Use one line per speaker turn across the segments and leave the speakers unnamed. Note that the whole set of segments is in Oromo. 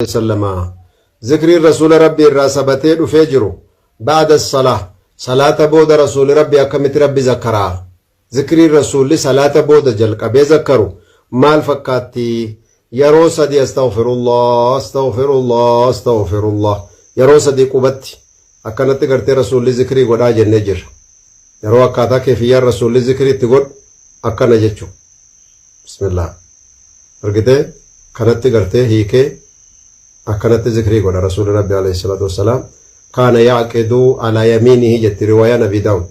sallama zikriin rasuula rabbi irraa sabatee dhufee jiru ba'da salaa salaata booda rasuuli rabbi akkamitti rabbi zakkaraa Zikrii Rasuulli salaata booda jalqabee zakkaru maal fakkaatti? Yaroo sadii Astaghfirullah, Astaghfirullah, Astaghfirullah yaroo sadii qubatti akkanatti gartee Rasuulli zikrii godhaa jennee jirra. Yaroo akkaataa keefiyyaan Rasuulli zikrii itti godhu akkana jechu. Bismillah. Argitee? Kanatti gartee hiikee akkanatti zikrii godha Rasuulli Rabbi alayhi salaatu wassalaam. Kaana ya'qidu ala yamiinihi jetti riwaayaan Abii Daawud.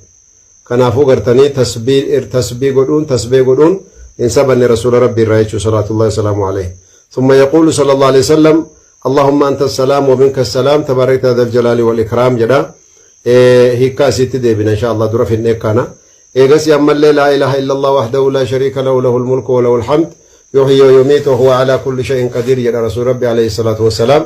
Kanaafuu gartanii tasbih tasbih godhuun tasbih godhuun hin sabanne rasuula rabbii irraa jechuu salaatullahi wasalaamu aleyh thumma yaquulu sallallahu aleyh wasallam allahumma anta salaam wa minka salaam tabarakta dhal jalaali wal ikraam jedha hiikkaa isiitti deebina insha allah dura finnee kana eegasii ammallee laa ilaha illallah wahdahu laa shariika lahu lahul mulku wa lahul hamd yuhyi wa yumiitu wa huwa ala kulli shay'in qadiir jedha rasuul rabbi alayhi salaatu wassalaam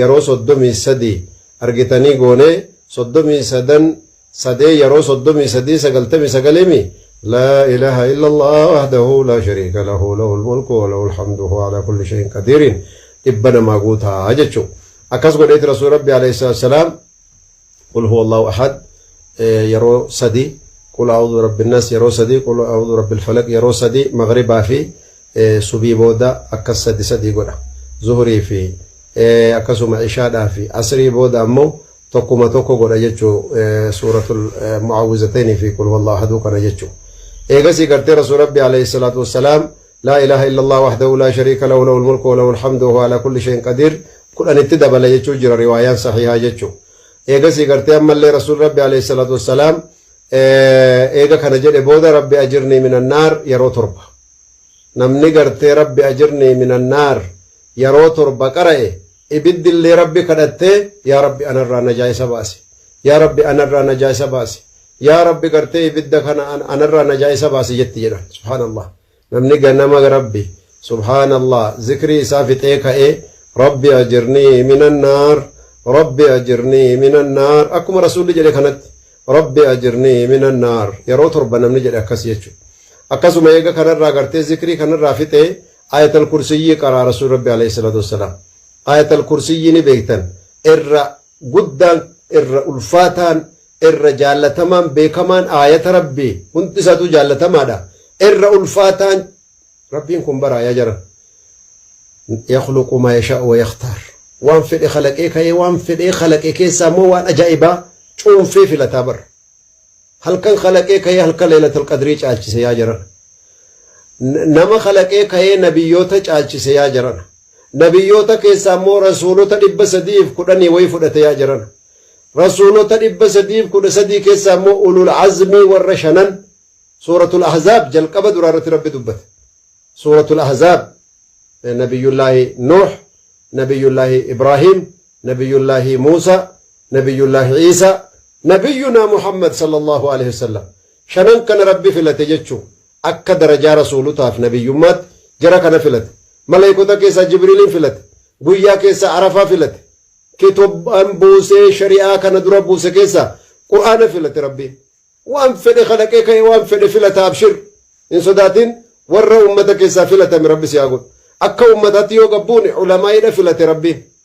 yeroo 33 argitanii goonee 33 sadee yeroo 33 99 mii laa ilaha illallah wahdahu laa shariika lahu lahul mulku wa lahul hamdu huwa ala kulli shay'in qadiiriin dhibba namaa guutaa jechuu akkas godheeti rasuuli rabbi alayhi salaam qul huwa allahu ahad yeroo sadi qul a'udhu birabbi nnas yeroo sadi qul a'udhu birabbil falaq yeroo sadi maghribaa fi subii booda akkas sadi sadi godha zuhurii fi akkasuma ishaadhaa fi asrii booda ammoo tokkuma tokko godha jechuu suuratul mu'awwizatayni fi qul huwa allahu ahaduu kana jechuu eegasii gartee rasuul rabbi alayhi salaatu wassalaam Laa ilaaha illallah wahdahu laa shariika lahu lahul mulku wa lahul hamdu wa huwa alaa kulli shay'in qadiir 10 itti dabala jechuu jira riwaayaan sahiihaa jechu. Eegasii gartee ammallee Rasuulli Rabbi alayhi salaatu wassalaam eega kana jedhe booda Rabbi ajirnii minan naar yeroo torba. Namni gartee Rabbi ajirnii minan naar yeroo torba qara'e ibiddillee Rabbi kadhattee yaa Rabbi anarraa najaa isa baasi. Yaa Rabbi anarraa najaa isa baasi. Yaa Rabbi gartee ibidda kana anarraa najaa isa baasi jetti jedhan. Subhaanallah. Namni ganama Rabbi Subhaanallah zikrii isaa fixee ka'ee Rabbi ajirnii minan naar Rabbi ajirnii minan naar akkuma Rasuulli jedhe kanatti Rabbi ajirnii minan naar yeroo torba namni jedhe akkas jechuudha. Akkasuma eega kanarraa gartee zikrii kanarraa fixee ayatal kursiyyii qaraa Rasuul Rabbi alayhi salaatu wassalaam. Ayatal kursiyyii ni beektan irra guddaan, irra ulfaataan, irra jaallatamaan, beekamaan, aayata Rabbii, hundi isaatuu jaallatamaadha, irra ulfaataan, Rabbiin kun baraa yaa jara, yakhluqu maa yashaa'u wa yakhtaar, waan fedhe khalaqee ka'ee waan fedhee khalaqe keessaa immoo waan ajaa'ibaa cuunfee filataa bar. Halkan khalaqee ka'ee halkan leelatul qadrii caalchise yaa jaran. Nama khalaqee ka'ee nabiyyoota caalchise yaa jaran. Nabiyyoota keessaa immoo Rasuulota 310 wayii fudhate yaa jarana. Rasuulota 313 keessaa immoo Ulul Azmii warra shanan Suuratul Ahzaab jalqaba duraa irratti Rabbi dubbate. Suuratul Ahzaab Nabiyyullaahi Nuuh, Nabiyyullaahi Ibraahiim, Nabiyyullaahi Muusaa, Nabiyyullaahi Iisaa, Nabiyyunaa Muhammad sallallahu alaihi wasallam. Shanan kana Rabbi filate jechuu. Akka darajaa rasuulota fi nabiyyummaatti jara kana filate. Malaykota keessaa Jibriiliin filate. Guyyaa keessaa Arafaa filate. Kitobbaan buusee shari'aa kana dura buuse keessaa Qur'aana filate Rabbiin. Waan fedhe khalaqee ka'e waan fedhe filata abshir. Hin sodaatin warra ummata keessaa filatame Rabbi si haa godhu. Akka ummataatti yoo gabbuune ulamaa'iidha filate Rabbiin.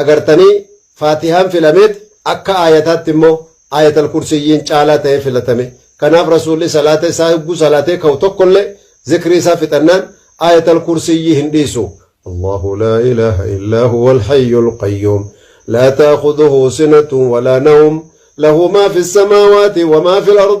Agartanii? Faatihaan filameet akka aayataatti immoo Aayatal Kursiyyiin caalaa ta'ee filatame. Kanaaf Rasuulli salaata isaa yogguu salaatee ka'u tokkollee zikrii isaa fixannaan Aayatal Kursiyyii hin dhiisu. Allaahu laa ilaaha illaa huwal hayyul qayyuum laa ta'khudhuhu sinatun wa laa nawm lahu maa fis samaawaati wa maa fil ard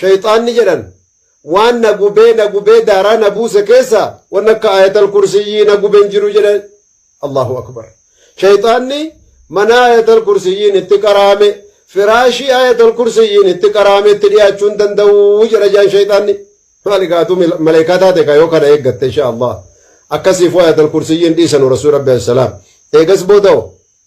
Shayxaanni jedhan waan na gubee na gubee daaraa na buuse keessa wan akka aayatal kursiyyii na guben jiru jedhe Allahu akbar. Shayxaanni mana aayatal kursiyyiin itti qaraame firaashii aayatal kursiyyiin itti qaraame itti dhiyaachuu hin danda'u jedha jaan shayxaanni. Maali gaatu maleekaa taate ka yoo kana eeggatte insha Allah. Akkasiifuu aayatal kursiyyiin dhiisanu Rasuul Rabbi alayhi salaam. Eegas booda'o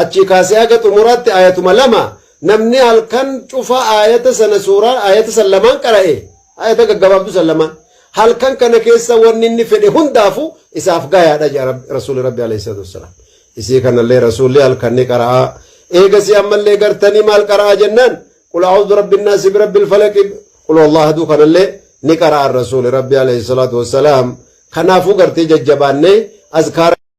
Achii kaasee haga xumuraatti aayatuma lama, namni halkan cufa aayata sana suuraa aayata san lamaan qara'e, aayata gaggabaabduu san lamaan, halkan kana keessa wanni inni fedhe hundaafu isaaf gayaadha jedha Rabbi, Rasuulli Rabbi alayhi salaatu wassalaam. Isii kanallee Rasuulli halkan ni qara'aa. Eegasii ammallee gartanii maal qara'aa jennaan, Qul a'uuzu birabbi nnaasi birabbi lfalaqi, Qul huwallahu ahaduu kanallee ni qara'an Rasuulli Rabbi alayhi salaatu wassalaam. Kanaafuu gartee jajjabaannee azkaara